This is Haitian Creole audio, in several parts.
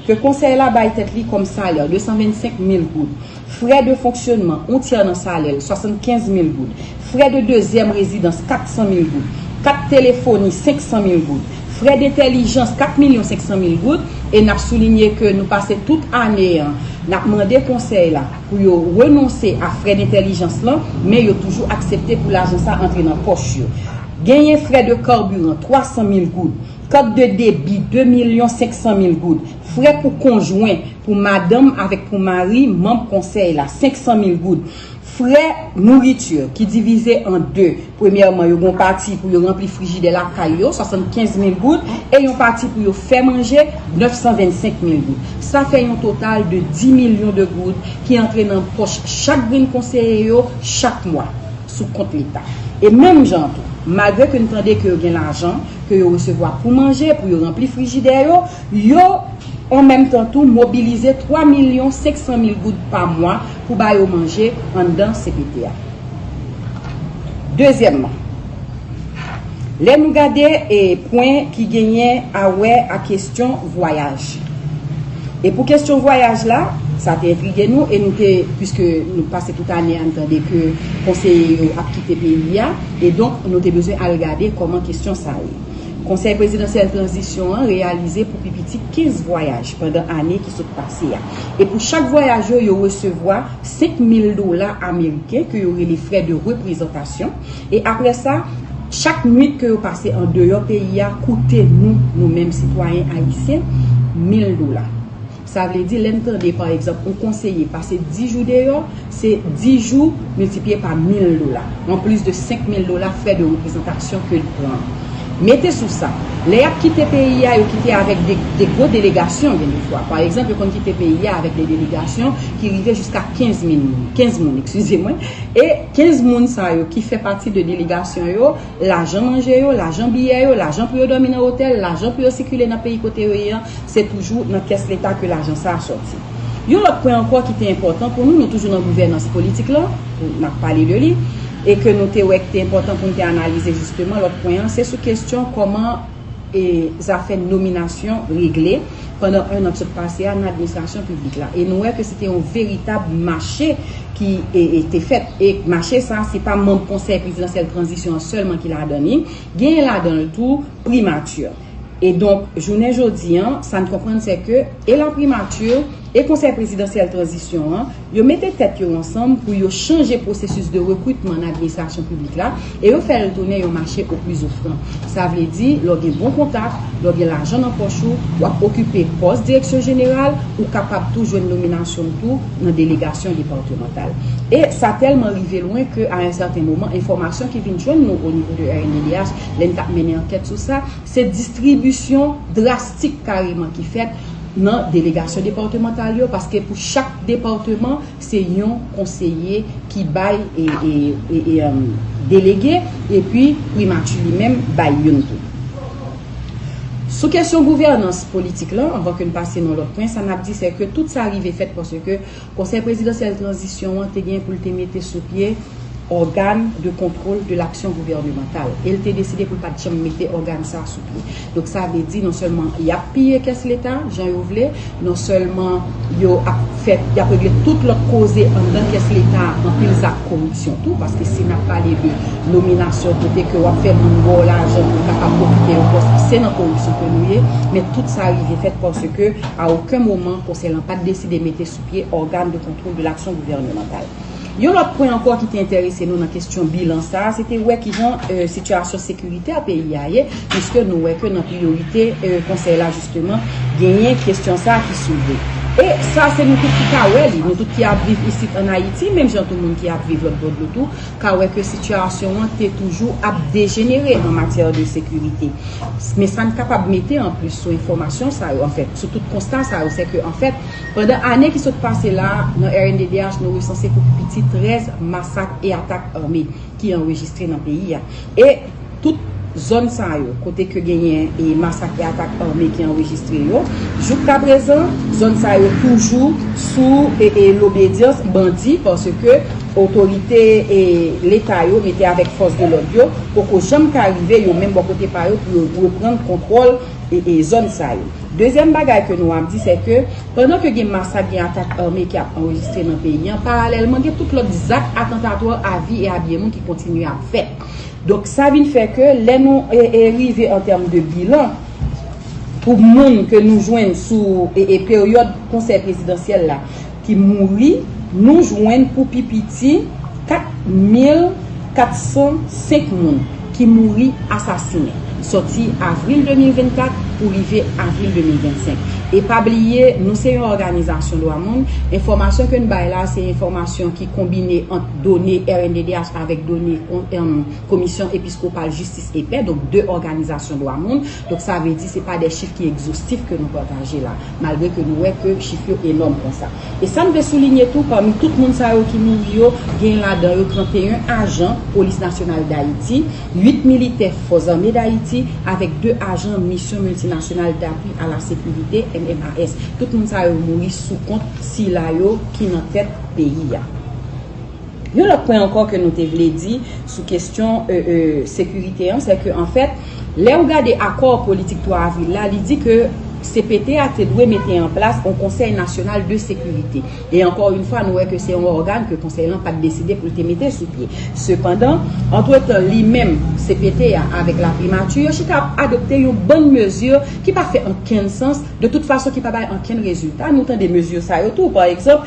Ke konsèy la bay tèt li kòm salè, 225 mil goud. Frè de fonksyonman, on tyè nan salè l, 75 mil goud. Frè de dezyèm rezidans, 400 mil goud. Kat telefoni, 500 mil goud. Frè dentèlijans, 4 milyon 500 mil goud. E n ap soulinye ke nou pase tout ane an, n ap mande konsèy la pou yo renonse a frè dentèlijans lan, men yo toujou aksepte pou lajan sa antre nan pòch yo. Genyen frè de karbiran, 300 mil goud. Kat de debi 2 milyon 500 mil goud. Frè pou konjwen, pou madanm avèk pou mari manb konsèy la, 500 mil goud. Frè nouriti, ki divize an 2, premyèman yo gen yon pati pou yo ranpli frijidè lakay yo, 75 mil goud, e yon pati pou yo fè manje, 925 mil goud. Sa fè yon total de 10 milyon de goud ki antre nan pòch chak grenn konseye yo chak mwa, sou kont leta. E menm jan an tou, malgre ke n tande ke yo gen lajan, ke yo resevwa pou manje, pou yo ranpli frijidè yo, yo an menm tan tou mobilize 3 milyon 500 mil goud pa mwa pou ba yo manje anndan cpt a. Dezyèmman, lè nou gade pwen ki genyen awè ak kestyon vwayaj, e pou kestyon vwayaj la, sa te entrige nou e nou te, piske nou pase tout ane a n tande ke konseye yo ap kite peyi a, E donk, nou te bezwen al gade kòman kesyon sa ye. Konsèy Prezidansyèl Tranzisyon an reyalize pou pi piti 15 vwayaj pandan ane ki sot pase a. E pou chak vwayaj yo, yo resevwa 5 mil dola ameriken ke yo rele frè de reprezantasyon. E apre sa, chak nwit ke yo pase an deyò peyi a koute nou, nou menm sitwayen ayisyen, mil dola. Sa vle di, lè n tande pa egzanp yon konseye pase 10 jou deyò, se 10 jou miltipliye pa 1000 dola, an plis de 5000 dola frè de reprezantasyon ke l pran. Mete sou sa, lè y ap kite peyi a, yo kite avèk de gwo delegasyon gen de fwa. Pa egzanp, yo konn kite peyi a avèk de delegasyon ki rive jiska 15 min moun, 15 moun, ekskize mwen, e 15 moun sa yo ki fè pati de delegasyon yo, Lajan manje yo, lajan biyè yo, lajan pou yo dòmi nan otèl, lajan pou yo sikile nan peyi kote yo ye an, se toujou nan kès leta ke lajan sa a sòti. Yon lòt pwen ankò ki te enpòtan pou nou, nou toujou nan gouvènans politik la, n ap pale de li, e ke nou te wè ki te enpòtan pou nou te analize jisteman, lòt pwen an, se sou kestyon kòman. e zafè nominasyon regle pandan 1 an k sot pase a nan administrasyon piblik la e nou wè ke se te yon veritab mache ki te fèt e mache sa se pa manm konsèy prezidansyèl tranzisyon an sèlman ki ladan li genyen ladan l tou primati e donk jounen jodi an sa n konprann se ke e laprimatur e konsèy prezidansyèl tranzisyon an. Yo mete tèt yo ansanm pou yo chanje pwosesis de rekritman nan administrasyon piblik la e yo fè l tounen yon mache oplisofran. Sa vle di, lè w gen bon kontak, lè w gen lajan nan pòch ou, w ap okipe pòs direksyon jeneral, ou kapab tou jwenn nominasyon w tou nan delegasyon depatmantal. E sa tèlman rive lwen ke a yon sèten moman, enfòmasyon ki vin jwenn nou o nivo de rnddh, lè n t ap mennen ankèt sou sa, se distribisyon drastik kareman ki fèt, nan delegasyon departemantal yo paske pou chak departeman se yon konseye ki bay delege epi primati li menm bay youn tou. Sou kesyon gouvènans politik lan anvan ke n pase nan lòt pwen sa n ap di se ke tout sa rive fèt paske Konsèy Prezidansyèl Tranzisyon an te gen pou l te mete sou pye Ògàn de Kontwòl de Laksyon Gouvènemantal e l te deside pou l pa t janm mete ògàn sa a sou pye. Donk sa vle di non sèlman y ap piye kès Leta jan yo vle, non sèlman yo ap fè, y ap regle tout lòt koze anndan kès Leta a, anpil zak koripsyon tou, paske si n ap pale de nominasyon kote ke w ap fè moun ba w lajan pou l kapab okipe yon pòs, se nan koripsyon ke nou ye, men tout sa rive fèt paske A oken moman, Konsèy lan pa t deside mete sou pye Organe de Contrôle de l'Action Gouvernementale. Yon lòt pwen ankò ki te enterese nou nan kestyon bilan sa a, se te wè ki jan sitiyasyon sekiritè peyi a ye, piske nou wè ke nan priyorite Konsèy la jisteman, genyen kestyon sa a ki soulve. E sa se nou tout ki ka wè li, nou tout ki ap viv isit an Ayiti, menm jan tou moun ki ap viv lòt bò dlo tou, ka wè ke sitiyasyon an te toujou ap dejenere an matyè de sekirite. Men sa n kapab mete an plis sou enfòmasyon sa yo, anfèt, sou tout konsta sa yo, se ke, anfèt, pandan ane ki sot pase la a, nan rnddh nou resanse pou pi piti 13 masak e atak ame ki anrejistre nan peyi a. E. Tout zòn sa yo, kote ke genyen e masak e atak ame ki anrejistre yo, jouk ka prezan, zòn sa yo toujou sou e e lobedyans bandi paske otorite e leta yo mete avèk fòs de lòd yo poko janm ka rive yo menm bò kote pa yo pou yo reprann kontwòl e e zòn sa yo. Dezyèm bagay ke nou ap di sè ke pandan ke gen masak gen atak ame ki ap anrejistre nan peyi an, paralèlman gen tout lòt zak atantatwa a vi e a byen moun ki kontinye ap fèt. Donk sa vin fè ke lè nou rive an tèm de bilan pou moun ke nou jwenn sou peryòd konsèy prezidansyèl la ki mouri, nou jwenn pou pi piti 4405 moun ki mouri asasinen sòti avril 2024 pou rive avril 2025. E pa bliye nou se yon òganizasyon dwa moun, enfòmasyon ke n bay la se enfòmasyon ki konbine ant done rnddh. avèk done komisyon episkopal jistis e pè, donk 2 òganizasyon dwa moun, donk sa vle di se pa de chif ki egzostif ke nou pataje la, malgre ke nou wè ke chif yo enòm konsa. E sa m vle soulinye tou, pami tout moun sa yo ki mouri yo, genyen ladan yo 31 ajan Polis Nasyonal Dayiti, 8 militè Fòs Zame Dayiti, avèk 2 ajan Misyon Miltinasyonal Dapwi a la Sekirite, MMAS. Tout moun sa yo mouri sou kont sila yo ki nan tèt peyi a. Yon lòt pwen ankò ke nou te vle di sou kestyon sekirite an, se ke anfèt, lè ou gade akò politik 3 avril la, li di ke cpt a te dwe mete an plas yon konsèy nasyonal de sekirite. E ankò yon fwa, nou wè ke se yon ògàn ke konsèy lan pa te deside pou l te mete sou pye. Sepandan, antretan, li menm, cpt a, avèk laprimati, yo chita ap adopte yon bann mezi ki pa fè ankenn sans, de tout fason ki pa bay ankenn rezilta. Nou tande mezi sa yo tou, pa egzanp,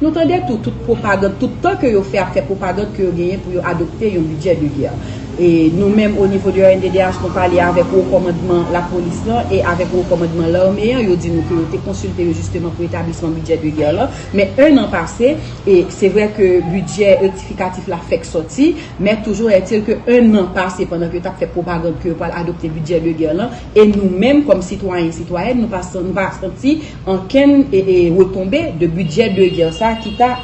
Nou tande tou tout pwopagand tout tan ke yo fè ap fè pwopagand ke yo genyen pou yo adopte yon bidjè de gè. E nou menm o nivo de rnddh nou pale avèk wo kòmandman lapolis lan e avèk wo kòmandman lame an yo di nou ke yo te konsilte yo jisteman pou etablisman bidjè de gè lan men 1 an pase e se vrè ke bidjè rektifikatif la fèk sòti men toujou ètil ke 1 an pase pandan ke yo tap fè pwopagand ke yo pwal adopte bidjè de gè lan e nou menm kòm sitwayen sitwayèn nou pa nou pa santi Ankenn retonbe de bidjè de gè sa ki ta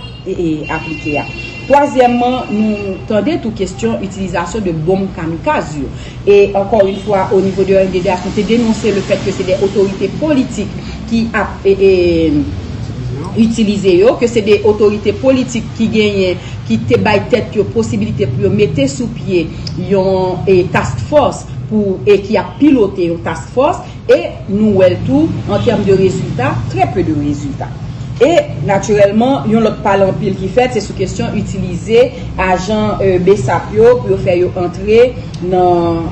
aplike a. Twazyèmman, nou tande tou kestyon itilizasyon de bonm kamikaz yo. E ankò yn fwa o nivo de ONDDH nou te denonse le fèt ke se de otorite politik ki ap itilize yo, ke se de otorite politik ki genyen ki te bay tèt yo posibilite pou yo mete sou pye yon task force pou e ki ap pilote yon task force. E nou wè l tou, an tèm de rezilta, trè peu de rezilta. E, natirèlman, yon lòt pale anpil ki fèt, se sou kesyon itilize ajan bsap yo pou yo fè yo antre nan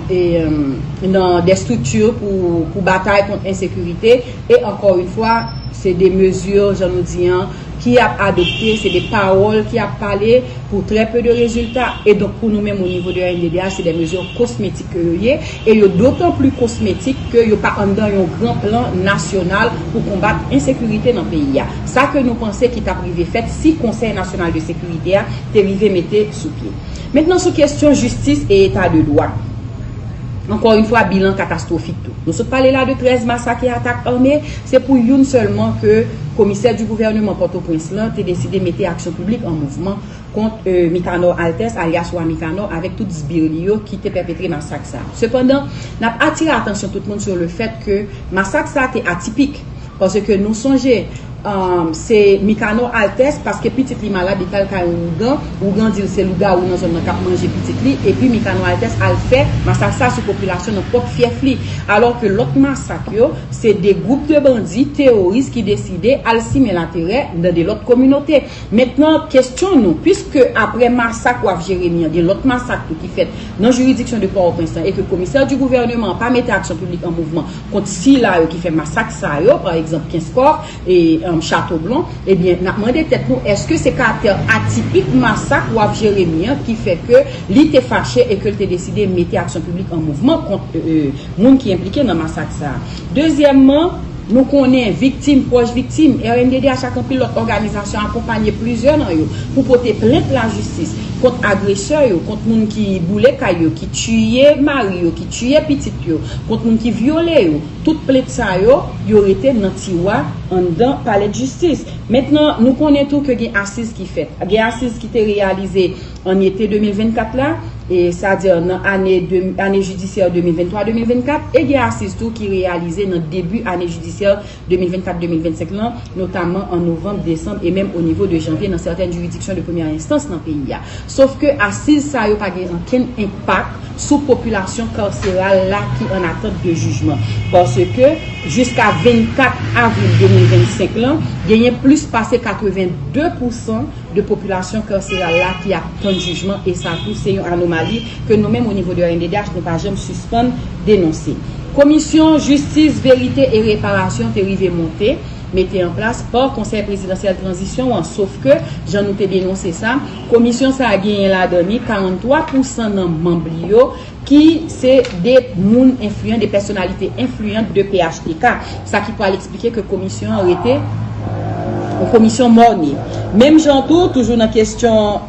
des structures pou batay kont ensekirite. E, ankò une fwa, se de mesures, jan nou di an, ki ap adopte, se de pawòl ki ap pale pou trè peu de rezilta. E donk, pou nou menm o nivo de rnddh, se de mesures cosmétiques. ke yo ye, e yo dotan pli kosmetik ke yo pa anndan yon gran plan nasyonal pou konbat ensekirite nan peyi a. Sa ke nou panse ki tap rive fèt si Konsèy Nasyonal de Sekirite a te rive mete sou pye. Mentnan sou kestyon jistis e eta de dwa. Ankò yn fwa bilan katastwofik tou. Nou sot pale la de 13 masak e atak ame, se pou youn sèlman ke Komisè du Gouvernement Pòtoprens lan te deside mete aksyon piblik an mouvman, kont Mikanò Altès alyas Wa Mikanò avèk tout sbir li yo ki te pèpetre masak sa. Sepandan, n ap atire atansyon tout moun sou le fèt ke masak sa te atipik, paske nou sonje se Mikanò Altès paske pitit li malad li t al kay yon wougan, wougan di l se lougawou nan zòn nan k ap manje pitit li epi Mikanò Altès al fè masak sa sou popilasyon nan pwòp fyèf li. Alò ke lòt masak yo se de gwoup de bandi teworis ki deside al simen laterè nan de lòt kominote. Mentnan, kestyon nou, pwiske apre masak Waf Jeremi an gen lòt masak tou ki fèt nan jiridiksyon de Pòòprens lan e ke komisè di gouvèneman an pa mete aksyon piblik an mouvman kont sila yo ki fè masak sa yo, pa egzanp Kenskòf e Chatoblon, ebyen n ap mande tèt nou èske se karaktè atipik masak Waf Jeremi an ki fè ke li te fache e ke l te deside mete aksyon piblik an mouvman kont moun ki enplike nan masak sa a. Dezyèmman. Nou konnen, viktim, pwòch viktim, rnddh ak anpil lòt òganizasyon akonpanye plizyè nan yo pou pote plent lajistis kont agresè yo, kont moun ki boule kay yo, ki tiye mari yo, ki tiye pitit yo, kont moun ki vyole yo. Tout plent sa yo, yo rete nan tiwa anndan palèdjistis. Mentnan, nou konnen tou ke gen asiz ki fèt. Gen asiz ki te reyalize. An ete 2024 la, sa a di nan ane ane jidisyè 2023-2024, e gen asiz tou ki reyalize nan debi ane jidisyè 2024-2025 lan, notamman an novanm, desanm e menm onivo de janvye nan sèten jiridiksyon de premyè enstans nan peyi a. Sof ke asiz sa yo pa gen ankenn enpak sou popilasyon karseral la ki an atant de jijman. Paske, jiska 24 avril 2025 lan, genyen plis pase 82 pousan de popilasyon karseral la ki ap tann jijman e sa tou se yon anomali ke nou menm o nivo de rnddh nou pa janm sispann denonse. Komisyon Jistis, Verite e Reparasyon te rive monte, mete an plas, pa Konsèy Prezidansyèl Tranzisyon an, sof ke, jan nou te denonse sa, komisyon sa a genyen ladan ni 43 pousan nan manb li yo ki se 2 moun enfliyan, 2 pèsonalite enfliyan de phtk, sa ki pral eksplike ke komisyon an rete yon komisyon morne. Menm jan tou, toujou nan kestyon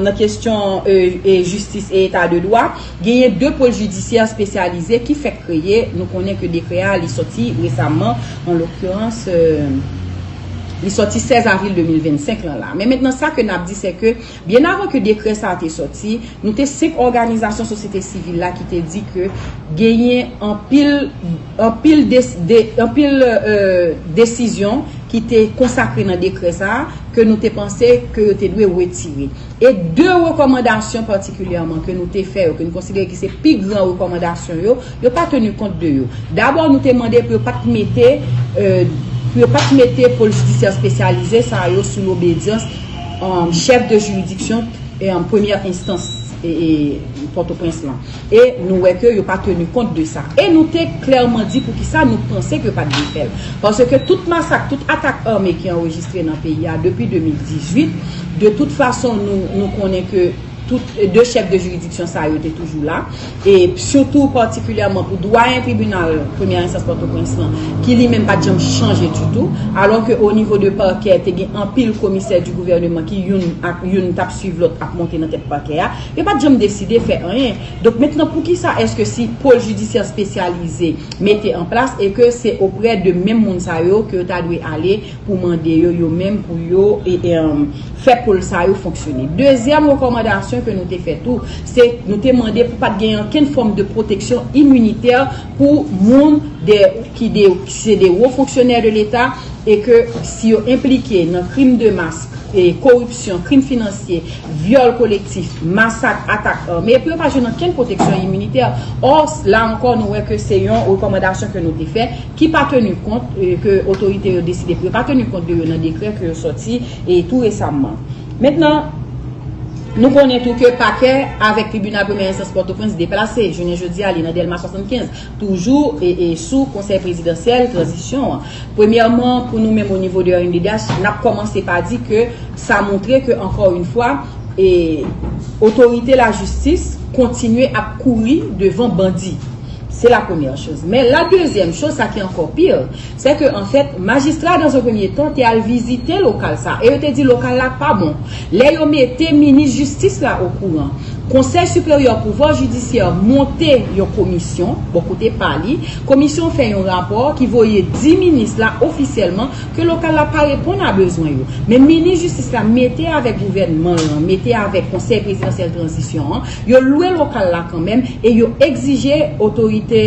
nan kestyon jistis e eta de dwa, genyen 2 pol jidisyè spesyalize ki fèk kreye, nou konnen ke dekrè a li sòti resamman, an lokiranse li sòti 16 avril 2025 lan la. Men mentnan sa ke nap di se ke Byen avan ke dekrè sa a te sòti, nou te 5 òganizasyon sosyete sivil la ki te di ke genyen anpil anpil anpil desizyon ki te konsakre nan dekrè sa a ke nou te panse ke yo te dwe wetire. E 2 rekòmandasyon patikilyèman ke nou te fè yo, ke nou konsidere ki se pi gran rekòmandasyon yo, Yo pa tenu kont de yo. Dabò nou te mande pou yo pat mete pou yo pat mete pol jidisyè spesyalize sa yo sou lobedyans chèf de jiridiksyon premyè enstans Pòtoprens lan. E nou wè ke yo pa tenu kont de sa. E nou te klèman di pou ki sa nou panse ke yo pat dwe fèl. Paske tout masak, tout atak ame ki anrejistre nan peyi a depi 2018, de tout fason nou konnen ke Tout 2 chèf de jiridiksyon sa yo te toujou la, e sitou patikilyèman pou dwayen tribinal premyè enstans Pòtoprens lan, ki li menm pa t janm chanje ditou, alò ke o nivo de pakè te gen anpil komisè di gouvèneman ki youn ak youn t ap swiv lòt ap monte nan tèt pakè a, yo pa t janm deside fè anyen. Donk mentnan poukisa èske si pôle judiciaire spécialisé mete an plas e ke se oprè de menm moun sa yo ke yo ta dwe ale pou mande yo yo menm pou yo fè pol sa yo fonksyone. Dezyèm rekòmandasyon ke nou te fè tou, se nou te mande pou pat gen ankenn fòm de pwoteksyon iminitè pou moun ki se de wo fonksyonè de leta e ke si yo enplike nan krim de mas, koripsyon, krim finansye, vyòl kolektif, masak, atak ame, pou yo pa jwenn ankenn pwoteksyon iminitè. Ò, la ankò nou wè ke se yon rekòmandasyon ke nou te fè. ki pa tenu kont, ke otorite yo deside pou yo pa tenu kont de yo nan dekrè ke yo sòti tou resamman. Mentnan, nou konnen tou ke pakè avèk tribinal premyè enstans Pòtoprens deplase, jounen jodi a li nan Dèlma 75, toujou sou konsèy prezidansyèl tranzisyon an. Premyèman, pou nou menm o nivo de rnddh, n ap kòmanse pa di ke sa montre ke ankò yon fwa, otorite lajistis kontinye ap kouri devan bandi. Se la premyè choz. Men la dezyèm choz, sa ki ankò pi, sè ke an fèt, majistra dans un premier temps te al vizite lokal sa a, e yo te di lokal la pa bon. Lè yo mete minis jistis la okouran, Conseil supérieur pouvoir judiciaire monte yon komisyon, bò kote pa li, komisyon fè yon rapò ki voye di minis la ofisyèlman ke lokal la pa reponn a bezwen yo. Men minis jistis la mete avèk gouvènman lan, mete avèk konsèy prezidansyèl tranzisyon an, Yo lwe lokal la kanmenm e yo egzije otorite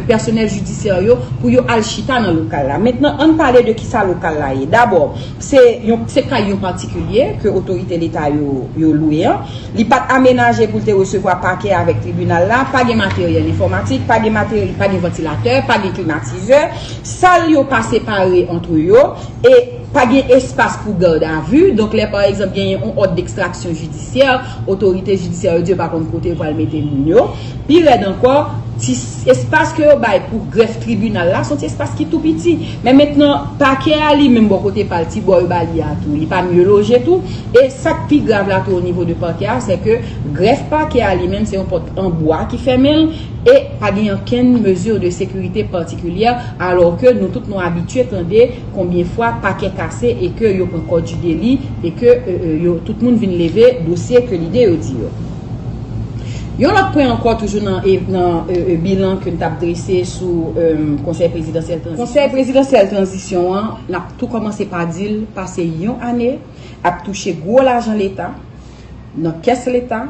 pèsonèl jidisyè yo pou yo al chita nan lokal la. Mentnan ann pale de kisa lokal la ye. Dabò, se kay yon patikilye ke otorite leta yo lwe an. Li pa t amenaje pou l te resevwa pakè avèk tribinal la. Pa gen materyèl enfòmatik, pa gen ventilatè, pa gen klimatizè. Sal yo pa separe antre yo e. Pa gen espas pou gad a vu, donk lè pa egzanp genyen yon òd dekstraksyon jidisyè, otorite jidisyè yo di yo pa konn kote yo pral mete moun yo. Pi rèd ankò, ti espas ke yo bay pou grèf tribinal la, se yon ti espas ki tou piti. Men mentnan, pakè a li menm bò kote pa l, ti bò yo ba li a tou, li pa mye loje tou. E sa k pi grav la tou o nivo de pakè a, se ke grèf pakè a li menm se yon pòt an bwa ki fèmen l e pa gen ankenn mezi de sekirite patikilyè alò ke nou tout nou abitye tande Konbyen fwa pakè kase e ke yo pran kò du deli e ke yo tout moun vin leve dosye ke lide yo di yo. Yon lòt pwen ankò toujou nan bilan ke n tap drese sou konsèy prezidansyèl tranzisyon. Konsèy prezidansyèl tranzisyon an nap tou kòmanse pa di l pase yon ane ap touche gwo lajan leta nan kès leta.